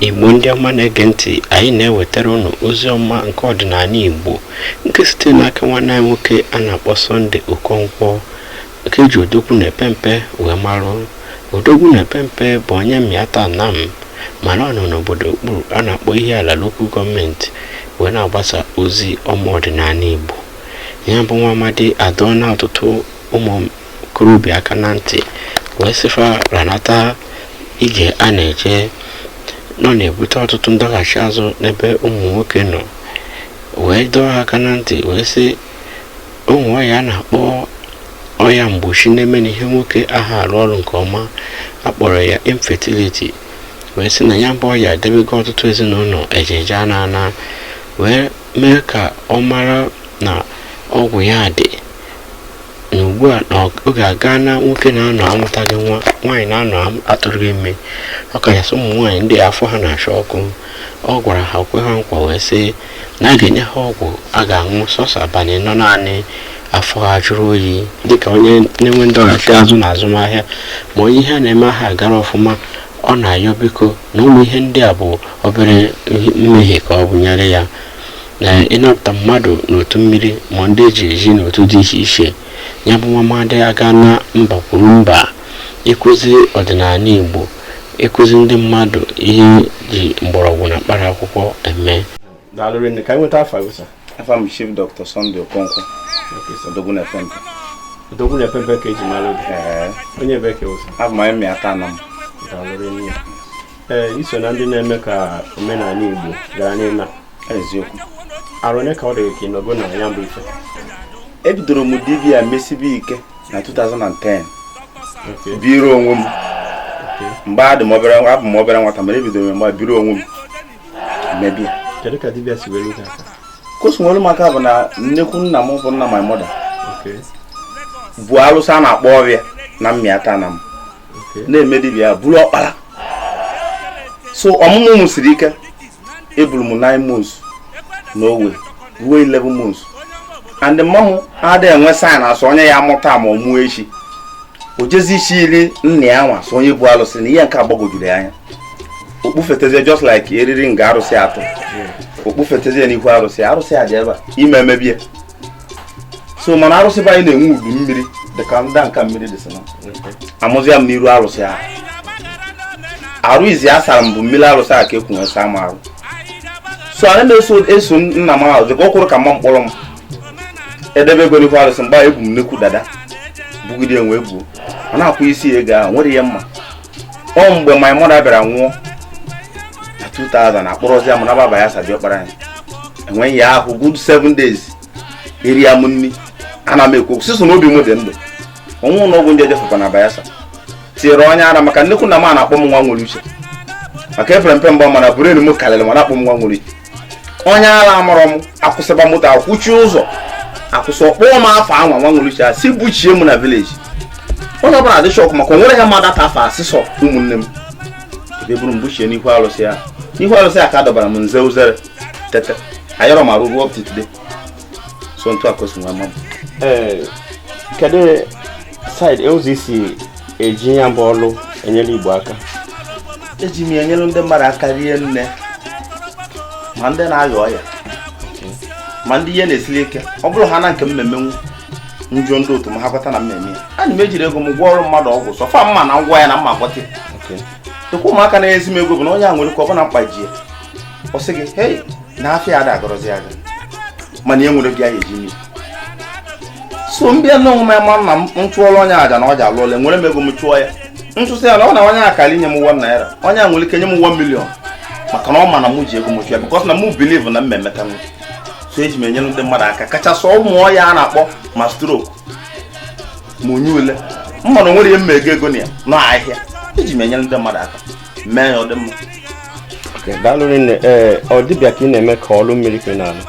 igbo ndị ọma na-ege ntị anyị na-ewetara ụnụ ozi ọma nke ọdịnanị igbo nke site n'aka nwanne anyị nwoke a na-akpọ sunday okonkwo nke ji odogwu na epempe wee marụ odogwu na epempe bụ onye mmịata anam mana ọ nọ n'obodo okpuru a na-akpọ ihiala local government wee na-agbasa ozi ọma ọdịnanị igbo ya bụ nwa amadi adọọna ọtụtụ ụmụ okorobịa aka na ntị wee sị fa ranata ije a na-eje na ọ na-ebute ọtụtụ ndọghachi azụ n'ebe ụmụ nwoke nọ wee dọọ ha aka na ntị wee sị o nwere ọya a na-akpọ ọya mgbochi na-eme na ihe nwoke aha arụ ọrụ nke ọma a kpọrọ ya infertility wee sị na ya bụ ọya edebego ọtụtụ ezinụlọ eje eje ana ana wee mee ka ọ mara na ọgwụ ya dị na ugbu a na ọ- oge agaana nwoke na-anọ amụtaghị nwa nwaanyị na-anọ am- atụrụghị ime ọ kachasị ụmụ nwaanyị ndị afọ ha na-acha ọkụ ọ gwara ha kwe ha nkwa wee sị na a ga-enye ha ọgwụ a ga-aṅụ sọsọ abalị anọ naanị afọ ha jụrụ oyi dịka onye na-enwe ndọghachi azụ na azụmahịa ma onye ihe a na-eme aha gara ọfụma ọ na-ayọ biko na ụmụ ihe ndị a bụ obere mmehie ka ọ bụnyere ya na ịnapụta mmadụ n'otu mmiri ma ndị e ji eji n'otu dị iche iche ya bụ nwa amadi agaana mba kwuru mba ịkụzi ọdịnanị Igbo ịkụzi ndị mmadụ ihe e ji mgbọrọgwụ na mkpara akwụkwọ eme afa m chief dr sunday okonkwo odogwu na epempe odogwu na epempe ka e ji mara obi onye ebee ka ị wụ sir abụ m onye mmịata anam ee i so na ndị na-eme ka omenala Igbo ghara ịna eziokwu arọ one ka ọ dị ka ị nọgo na ya bụ ife ebidoro m dibia mesibe ike na 2010 biri onwe m mgbe adị m obere abụ m obere nwata mere ebidoro mgbe biri onwe m mebe kedu ka dibia si were gị aka ka o si were m aka bụ na nnekwu nna m bụ nna my mother bụ alụsị a na-akpọ ọrịa na mmịata anam na-eme dibịa ya bụrụ ọkpara so ọmụmụ m siri ike eburu m 9 months na o wee ruo 11 months and mama m adịghị enwe sign asụ onye ya-amụ taa ma ọ mụọ echi o jezi isi iri nna ya nwa asụ onye bụ alụsị na ihe nke agbagwojuru ya anya okpufetezie just like eriri nga arụsị atọ okpufetezie n'ihu arụsị arụsị a dị ebe a ime emebie so mana arụsị be anyị na-enwe udu mmiri dịka ndị nka mmiri dị sị na amụzịa m n'iru arụsị ahụ arụ izizi a sara m bụ mmiri arụsị a ka e ku wee sa m arụ so anyị na-eso eso nna m ahụ dịka o kwuru ka mma mkpọrọ m edebe ego n'ihu arụsị mgbe ebu m nnekwu dada bugide wee buo ọ na-akwụ isi ego ahụ nwere ihe m ma ọ mgbe my mother bịara nwụọ na 2000 a kpọrọzịa mụ naba Bayelsa be ọkpara anyị e wee yaa ahụ good seven days eriya m nni ana m ekwu sọsọ na obi m dị ndụ o nwe ụnọ ọgwụ ndị ejefekwa na Bayelsa tinyere onye ara maka na-ekwu na m a na-akpọ m nwa nwere uche maka epere m mpe mana brain m karịrị m a na-akpọ m nwa nwere uche onye ara amụrụ m akwụsịba moto akwụchi ụzọ akwụsị akpọọ m afa nwa nwere uche a sị buchie m na village onye ọbụla dị shock maka o nwere ha mmadụ ata afọ a sị sọ ụmụnne m e wee buru m buchie n'ihu alụsị a n'ihu alụsị a ka a dọbara m m zee uzere tete ayarọ m arụ ruo up to today so ntụ akwesị nwa mma ee kedu side ụzọ i si eji ya bụ ọlụ enyere Igbo aka eji m enyere ndị mmadụ aka rinne ma ndị na-aya ọya ma ndị ihe na-esili ike ọ bụrụ ha na nke m ma-eme m jụọ ndị otu m ha kweta na m ma-eme ya ana m ejiri ego m gwọọrọ mmadụ ọgwụ so far m ma na m gwọọ ya na m ma-agwọta dịkwa ụmụaka na-ezi m ego bụ na onye a nwere ike ọ bụ na mkpa ji ya ọ sị gị hei na afịa ada agarọzi aga mana e nwere bịa ya eji mmiri so m bịa n'onwe m ama na m chụọlụ onye a aja na ọ ja-alụ ọlụ ewere m ego m chụọ ya m chụsịa ya na ọ na onye a kara inye m one naira onye a nwere ike nye m one million maka na ọ ma na m ji ego m chụọ ya because na m believe na m emeta nwe so eji m enyere ndị mmadụ aka kachasị ụmụ ọya a na-akpọ ma stroke ma onye ala m ma na o nwere ihe m ma ego ego na ya na ahịa eji m enyere ndị mmadụ aka mee ya ọ dị mma daalụ nne ee ọ dibịa ka ị na-eme ka ọlụ mmiri ka ị na-alụ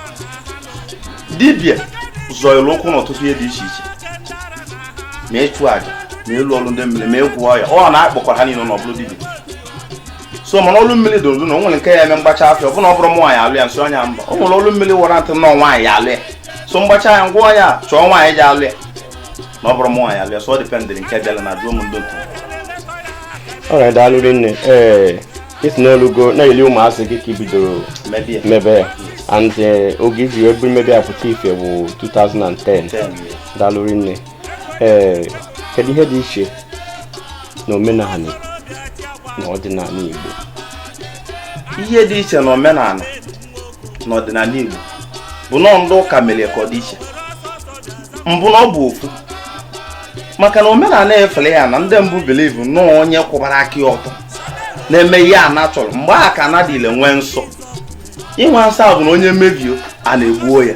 dibịa zọlụ ụkwụ n'ọtụtụ ihe dị iche iche ma ịchụ aja ma ịlụ ọlụ ndị mmiri ma ịgwọ ọya a na-akpọkwa ha niile n'ọ bụ ọlụ dibịa so mana ọlụ mmiri dị ụzọ na o nwere nke ya eme m gbachaa afa ọ bụ na ọ bụrọ m nwaanyị alụ ya m sị onye a mba o nwere ọlụ mmiri wara ntị nọ nwaanyị alụ ya so m gbachaa ya m gwa onye a chọọ nwaanyị ji alụ ya na ọ bụrọ m nwaanyị alụ ya so ọ dependịrị nke bịara na jụọ m ndị otu alright daalụ rinne ee ị sị n'o lugo na eli ụmụazị gị ka i bidoro mebe ya and eh, oge i ji wee mebe ya pụta ife bụ 2010 daalụ rinne ee eh, kedu ihe dị iche na omenala na ọdịnala Igbo ihe dị iche na omenala n'ọdịnala Igbo bụ na ọ ndị ụka mere ka ọ dị iche mbụ na ọ bụ ofu maka na omenala efere ya na ndị mbụ believe na ọ onye kwụbara aka ya ọtọ na-eme ihe ana chọrọ mgbe a ka ana dị ile nwee nsọ inwe nsọ a bụ na onye mebio ana egbuo ya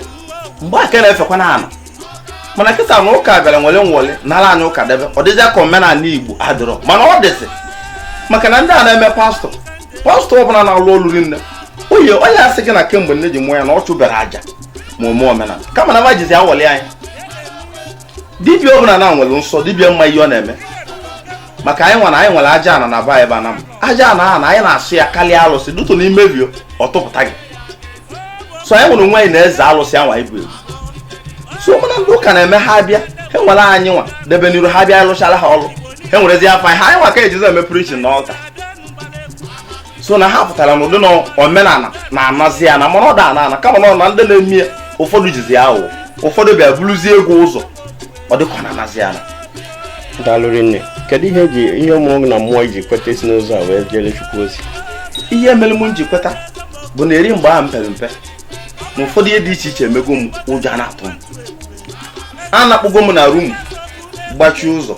mgbe a ka na-efekwa na ana mana kịta na ụka bịara nwere nwole nara anyị ụka debe ọ dịzị ka omenala igbo adịrọ mana ọ dịzị maka na ndị a na-eme pastọ pastọ ọbụla na-alụ ọlụ o nwerọ onye asị gị na kemgbe nne ji mụọ ya na ọ chụberọ aja ma ome omenala kama na ma jizi awọ eli anyị dibia ọbụla na nwere nsọ dibia ma ihe ọ na-eme maka anyị nwere anyị nwere aja ana n'eba ebe ana m aja ana a na anyị na-asọ ya karịa alụsị due to na i mebio ọ tụpụta gị so anyị nwere onwe anyị na eze alụsị anwa ibu ebu so mana ndị ụka na-eme ha bịa ha ewere anyị nwa debe n'iru ha bịa lụchara ha ọrụ ha ewerezi afa anyị ha anyị nwa ka e jizi eme preaching n'ụka so na ha pụtara n'ụdị na omenala na-anazi ana mana ọ da ana ana kama na ọ na ndị na-eme ya ụfọdụ jizi ya aghụghọ ụfọdụ bịa buruzie ego ụzọ ọ dịka ọ na-anazi ana daalụ rinne kedu ihe mere gị na mmụọ i ji kweta isi n'ụzọ a wee jere chukwu ozi ihe mere m ji kweta bụ na eri mgbe ahụ m pere mpe na ụfọdụ ihe dị iche iche emego m ụjọ a na-atụ m and akpụgo m na room gbachie ụzọ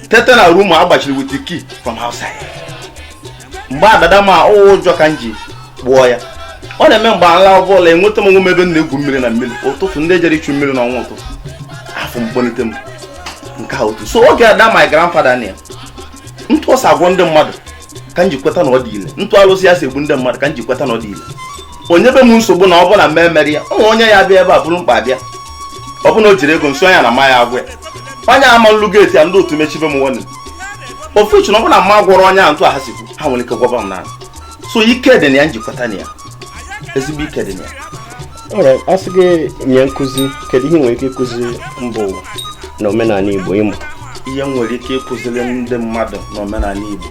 tete na room a gbachiri with the key from outside mgbe adada ma ụjọ ka m ji gbuo ya ọ na-eme mgbe m laba ụla enweta m onwe m ebe m na-egwu mmiri na mmiri ụtụtụ ndị jere ichu mmiri n'ọnụ ụtụtụ afụ m kpọlite m nke a otu so oge ada my grandfather na ya ntụ o si agwọ ndị mmadụ ka m ji kweta na ọ dị ile ntụ alụsị ya si egbu ndị mmadụ ka m ji kweta na ọ dị ile onye be m nsogbu na ọ bụla mee mere ya ụmụ onye ya bịa ebe a buru mkpa bịa ọ bụ na o jirọ ego nso ya na ma ya agwa ya onye ama nlu geeti ya ndị otu mechibe m nwanne ofuchi na ọ bụ na m agwọrọ onye a ntụ ha si kwu ha nwere ike gwọba m naanị so ike dị na ya m ji kweta na ya ezigbo ike dị na ya ọ bụrụ a sị gị nye nkụzi kedu ihe i nwere ike ịkụzi mba ụwa na omenala igbo ịmụ ihe m nwere ike ịkụziri ndị mmadụ na omenala igbo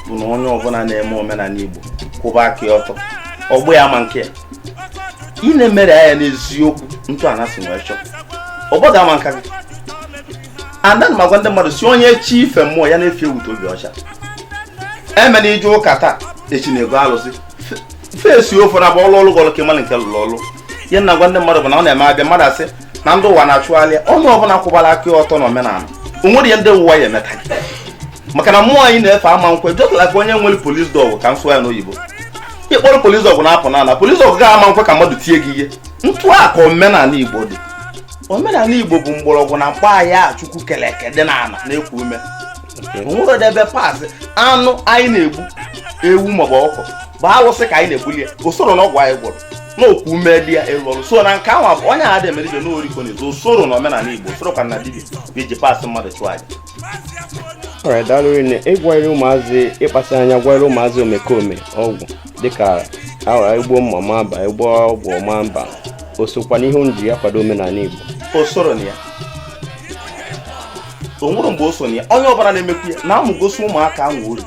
bụ na onye ọbụla na-eme omenala igbo kwụba aka ya ọtọ ọgbụ ya ma nke ya ị na-emere ya n'eziokwu ntụ ana si wee chọọ ọgbụ ga-ama n'aka gị and then m agwa ndị mmadụ sị onye chọ ife mmụọ ya na-efe weta obi ọcha emena ije ụka taa echi na-ego alụsị fesie ofu na ọ bụ ọ lụọlụ gị ọlụ ka ị malụ nke lụrụ ọlụ ihe m na-agwa ndị mmadụ bụ na ọ na-eme a bịa mmadụ asị na ndị ụwa na-achụgharị onye ọbụla kwụbara aka ọtọ na omenala o nwerọ ihe ndị ụwa ya emeta maka na mmụọ anyị na-efe ama nkwe just like onye nwere police dog ka m sụọ ya n'oyibo ị kpọrọ police dog na-apụ n'ala police dog gị ama nkwe ka mmadụ tie gị ihe ntụ a ka omenala igbo dị omenala igbo bụ mgbọrọgwụ na mkpa anyị a chukwu kere eke dị n'ala na nkume o nwere ụdị ebe paasị anụ anyị na-egbu ewu maọbụ ọkụkọ bụ alụsị ka anyị na-egbuli ya o soro na ọgwụ anyị gwọrọ na nkume dị ya ịrụ ọrụ so na nke ahụ bụ onye a dị emere ibe n'oriko na ezo o soro na omenala igbo o soro ka na dibịa ga-eji paasị mmadụ chụọ aja alright daalụ rinne ịgwọnyere ụmụazị ịkpasị anya gwọnyere ụmụazị omekome ọgwụ dịka igbu mma ọ ma mba igbo ọgwụ ọ ma mba o sokwa n'ihe unu ji ya kwado omenala igbo o soro na ya o nwere mgbe o so na ya onye ọbụla na-emekwu ya na amụgosi ụmụaka ahụ uru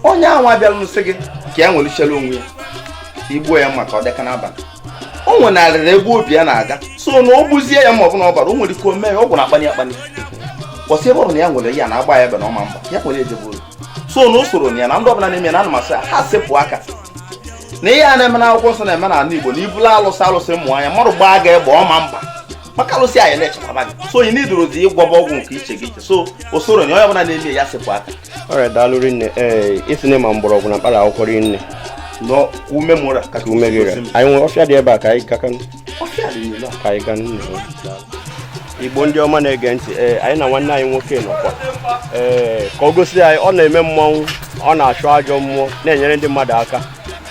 onye ahụ abịala nsị gị ka ya nwelichara onwe ya i gbuo ya maka ọ dịka n'abalị o nwenarịrị ebe obi ya na-aga so na o gbuzie ya ma ọ bụ na ọ bara o nwere ike o mee ya ọgwụ ahụ akpanye akpanye kwụsị ebe ọ bụ na ya nwere ya na-agba ya egbe na ọ ma mba ya kwere ejebe so na o soro na ya na ndị ọbụla na-eme na a na m asị ha sepụ aka na ihe a na-eme na akwụkwọ nsọ na-eme n'ala Igbo na ibula alụsị alụsị mmụ anya mmadụ gbaa gị egbe ọ ma mba maka alụsị anyị na-echekwaba gị so onye n'idoro dị ịgwọba ọgwụ nke iche gị iche so o soro na onye ọbụla na-eme ya sepụ aka alright daalụ rinne ee eh, ị sị na ị ma mgbọrọgwụ na mkpara akwụkwọ rinne n'ume mụra ka ume gị anyị nwere ọfịa dị ebe a ka anyị gakanụ ka anyị gaanụ igbo ndị ọma na-ege ntị ee eh, anyị na nwanne anyị nwoke nọkwa ee eh, ka o gosi anyị ọ na-eme mmọnwụ ọ na-achụ ajọ mmụọ na-enyere ndị mmadụ aka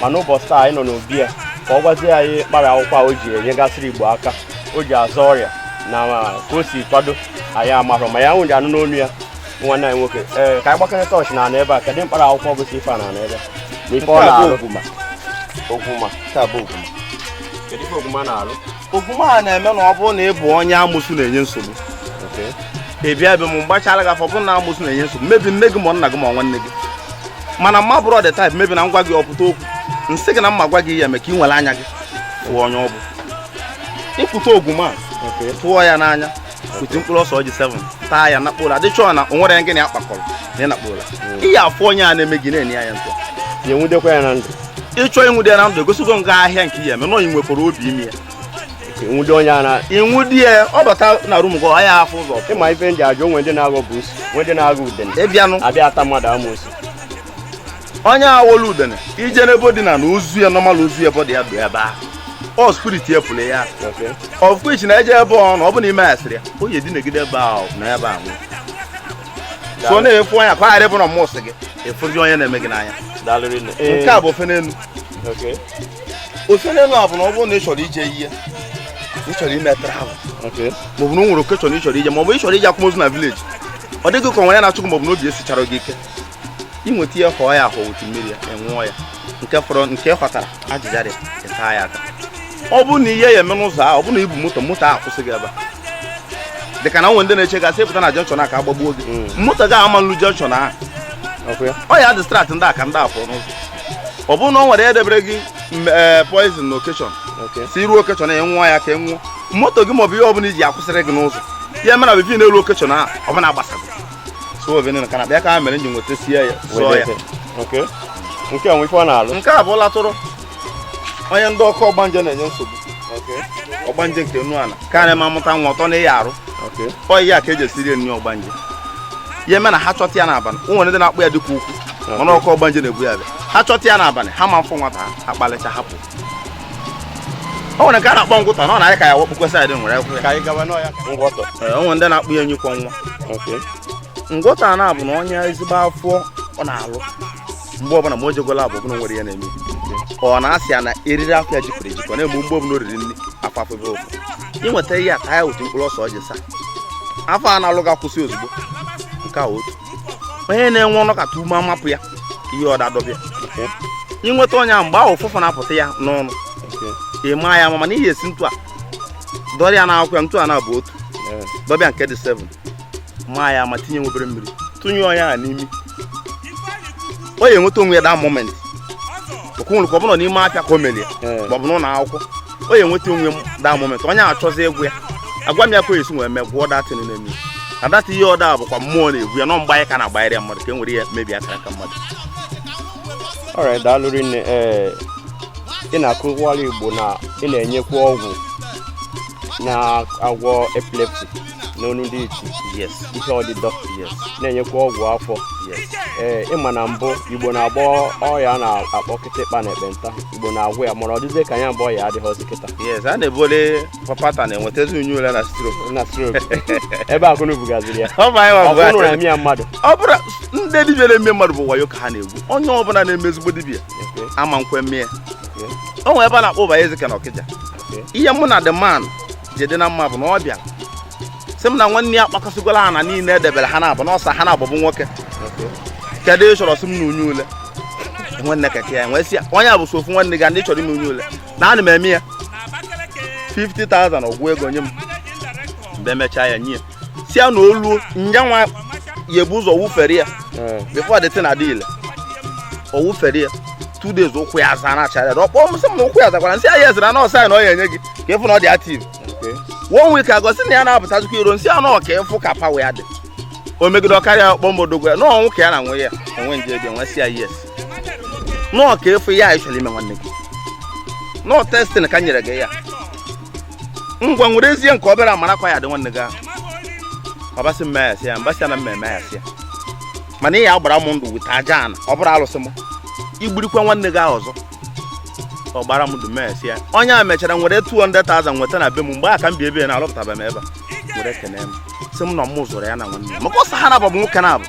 mana ụbọchị taa anyị nọ n'obi ya ka ọ gwazie anyị mkpara akwụkwọ o ji enyegasịrị igbo aka o ji azọ ọrịa na ka o si kwado anyị amarọ ma ya nwụrụ anụ n'ọnụ ya nwanne anyị nwoke ee eh, ka anyị gbakọrịta ọchị n'ana ebe a kedụ mkpara akwụkwọ bụ ife a n'ana ebe na ife ọ na-arụ ogwuma ogwuma kedu ife ogwuma na-alụ ogwuma a na-eme na ọ bụrụ na ị bụ onye amụsụ na-enye nsogbu ị bịa be m gbachara gị afa ọ bụrụ na amụsụ na-enye nsogbu maybe nne gị ma nna gị ma nwanne gị mana mụ abụrọ the type maybe na m gwa gị ọ pụta okwu m sị gị na m ma gwa gị ihe eme ka i were anya gị fụọ onye ọ bụ i kute ogwuma tụọ ya n'anya kute mkpụrụ ose ọjị 7 taa ya nakpuo ụra adịchọọ na o nwere gị na ya kpakọrọ na ị nakpuo ụra ị ya-afụ onye a na-eme gị n'anya ntụ ya enwudekwa ya na ndụ ị chọọ inwude ya na ndụ egosi gị ahịhịa nke ya eme na ị nwekwara obi i mee ya i nwude onye a na i nwude ya ọ bata na room gị ọ ya afụ ụzọ ị ma ife ndị ajọ o nwe ndị na-aghọ buusu nwe ndị na-aghọ udene ịbịanụ abịa ata mmadụ amụsụ onye aghọlụ udene i je n'ebe o dina na ozu ya normal ozu ya body ya dị ebe a ọ spirit ya pụrụ ya of which na i je ebe ọ nọ ọ bụ na ime asịrị ya o yi edinegide ebe a na ebe a nwụrụ so na-efu anya ka a ghara ịbụ na mụ sị gị ị fụzie onye na-eme gị n'anya nke a bụ ofe n'elu ofe n'elu a bụ na ọ bụrụ na ị chọrọ ije ihe ị chọrọ ime travel maọbụ na o nwere occasion ị chọrọ ije maọbụ ị chọrọ ije akwamozu na village ọ dị gị ka o nwe ihe na-achụ gị maọbụ na obi esicharọ gị ike i nweta ihe họọ ya ahụ otu mmiri ya enwụọ ya nke fọrọ nke họtara ajịja dị ịta ya ata ọ bụrụ na ihe ya eme n'ụzọ ahụ ọ bụrụ na i bu moto moto ahụ kwụsị gị ebe dị ka na o nwe ndị na-eche gasị ị pụta na junction a ka agbagbuo gị mm. moto gị ama nlu junction ahụ ọ ya distract ndị a ka ndị afọ n'ụzọ ọ bụrụ na o nwere ya edebere gị eh, poison na occasion sị i ru occasion ya nwụọ ya ka ị e nwụọ moto gị maọbụ ihe ọbụla i ji akwụsịrị gị n'ụzọ ya mere na before i lu occasion ahụ ọbụla gbasago so ovenu na kanakpa ya ka ha mere nji nweta sie ya sụọ ya nke a nwe ife ọ na-alụ nke a bụ latụrụ onye ndị ọkụ ọgbanje na-enye nsogbu ọgbanje nke nnu ala karịa ma mụta nwa ọtọ na ịya arụ ọ ihe a ka e ji esiri enyi ọgbanje ya eme na ha chọta ya n'abalị o nwere ndị na-akpọ ya dike ukwu mana ọkụ ọgbanje na-egbu ya bịa ha chọta ya n'abalị ha ma mfụ nwata ha akpalịcha hapụ o nwere nke a na-akpọ ngwụtọ na ọ na-adị ka ya wakpukwe side nwere akwụkwọ ya ka anyị gawa n'ọya ka ngwọtọ Ee, o nwere ndị na-akpọ ya enyi kwọ nwa okay ngwọtọ a na-abụ na onye ezigbo afọ ọ na-alụ mgbe ọbụla ma o jego lab ọbụla o nwere ya na-eme ọ na-asị ya na eriri afọ ya jikọrọ ejikọ na-egbu mgbe ọbụla o riri nri afọ afụbe ụfụ i nweta ihe a ka ya otu mkpụrụ ose ọjị saa afọ a na-alụ ga-akwụsị ozugbo nke a otu onye na-enwe ọ nọkata ume amapụ ya ihe ọdịdọ bịa ị nweta onye ahụ mgbe ahụ ụfụfụ na-apụta ya n'ọnụ ị maa ya ma mana ihe esi ntu a dọrọ ya n'akwụkwọ ya ntu a na-abụ otu dọbịa nke dị 7 maa ya ma tinye nwa obere mmiri tụnye onye ahụ n'imi ọ ya enweta onwe ya that moment okwunwere ka ọ bụrụ n'ime afịa ka o melie maọbụ n'ụlọ akwụkwọ ọ ya enweta onwe ya that moment onye ahụ chọzie ọgwụ ya agwa m ya ka e si nwee mee gwụọ that thing na-eme na data ihe ọda bụkwa mmụọ na-egwu ya no mgbe anyị ka na-agbanyere ya mmadụ ka e nwere ya mebi akara aka mmadụ ọrịa daalụ rinne ee ị na-akọwara Igbo na ị na-enyekwa ọgwụ na-agwọ epilepsy n'olu ndị ọcha yes ihe ọdịdọ yes na-enyekwa ọgwụ afọ yes ee ị ma na mbụ Igbo na-agwọ ọrịa a na-akpọ kịtịkpa na ekpenta Igbo na-agwọ ya mana ọ dịzie ka ya bụ ọya adịghịzi kịta yes a na-ebole papata na-enwetazi enyi ule na stroke na stroke ebe akụnụ bugaziri ya ọ bụ anyị nwa ọ bụ bụrụ na anyị. emee ya mmadụ ọ bụrụ ndị dibịa na-eme mmadụ bụ wayo ka ha na-egwu onye ọbụla na-eme ezigbo dibịa Okay, ama nkwe mee ya okay, o nwere ebe a na-akpọ Ụbahụezike na Ọkịja okay. ihe mụ na the man ji dị na mma bụ na ọ bịara sị m na nwanne ya kpakọsịgo ala ha niile edebere ha na-abụ n'ọsa ha na-abụ bụ nwoke kedu ihe ị chọrọ sị m na enyi ule nwanne keke ya m wee sị ya onye a bụ sọ ofu nwanne gị ndị chọrọ ime enyi ule na ana m eme ya 50,000 ọ gụọ ego nye m mgbe emechaa ya nye ya si ya na olu nyanwa ya ebu ụzọ wụfere ya before the thing adị ile ọ wụfere ya two days ụkwụ ya aza na achara ọ kpọọ m sị m na ụkwụ ya zakwara m sị ya ezira na ọsọ anyị na ọ ya enye gị ka ịfụ na ọ dị active one week agaa ọ sị na ya na-apụtazikwa iro m sị ya na ọ ka ịfụ ka pawa ya dị o megide ọ karịa ọ kpọọ m odogwu ya na-anwụ ka ya na nwe ya enwe nje bịa m wee sị ya yes na ọ ka ịfụ ya ị chọrọ ime nwanne gị na ọ testing ka m nyere gị ya ngwa werezie nke obere a mara ka ọ ya adị nwanne gị ahụ ọ bịa sị mma ya sị ya m bịa sị na mmemme ya sị ya mana ị ya agbara m ndụ weta aja ana ọ bụrụ alụsị m igbirikwa nwanne gị ahụ ọzọ ọ gbara m ndụ mee sị ya onye a mechara were 200,000 weta na be m mgbe a ka m bi ebe ya na alụpụtaba m ebe a were kene m sị m na m zọrọ ya na nwanne ya maka ọ sọ ha naabọ bụ nwoke naabọ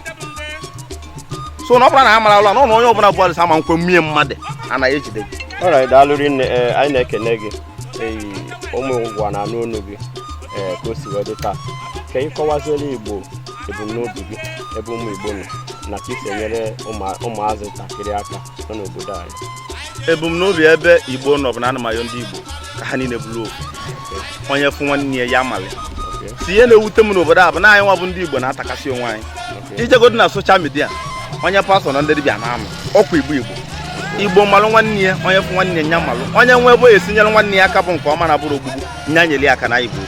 so na ọ bụrụ na ha mara ụlọ na ọ na onye ọbụla bụ alụsị ama nkwe mee mmadụ anaghị ejide gị ọra daalụ rinne ee anyị na-ekene gị ụmụ ụwa na-anụ onu gị ee ka o si wee dị taa ka ị kọwaziere igbo ebumnobi gị ebe ụmụ igbo nọ na ka i si enyere ụmụazị ntakịrị aka nọ n'obodo anyị ebumnobi ebe igbo nọ bụ na m na-ayọ ndị igbo ka ha niile bụrụ ofu onye fụ nwanne ya ya amalụ isi ihe na-ewute m n'obodo a bụ na anyị nwa bụ ndị igbo na-atakasị onwe anyị ijegodo na soshal midia onye pastọ na ndị dibịa na-amụ ọkwa igbo igbo igbo malụ nwanne ya onye fụ nwanne ya malụ onye nwe ebe esi nyere nwanne ya aka bụ nke ọ ma na abụrọ ogbugbu nya nyere ya aka na igbo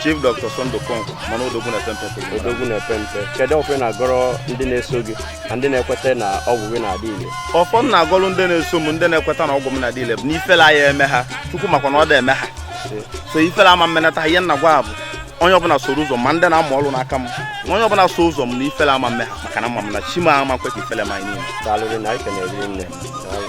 chief dr sunday okonkwo a ma na odogwu na pempe odogwu na pempe kedu ọfọ ị na-agọrọ ndị na-eso gị na ndị na-ekweta na ọgwụ gị na-adị ile ọfọ m na-agọrọ ndị na-eso m ndị na-ekweta na ọgwụ m na-adị ile bụ na ifele aya eme ha chukwu makwa na ọ da eme ha so ifele ama mmenata ha ihe m na-agwa bụ onye ọbụla soro ụzọ m ma ndị na-amụ ọrụ n'aka m na onye ọbụla so ụzọ m na ifele ama mme ha maka na ama m na chi m ama kwe ka ifele mee anyị niile daalụ rinne anyị kenere rinne daalụ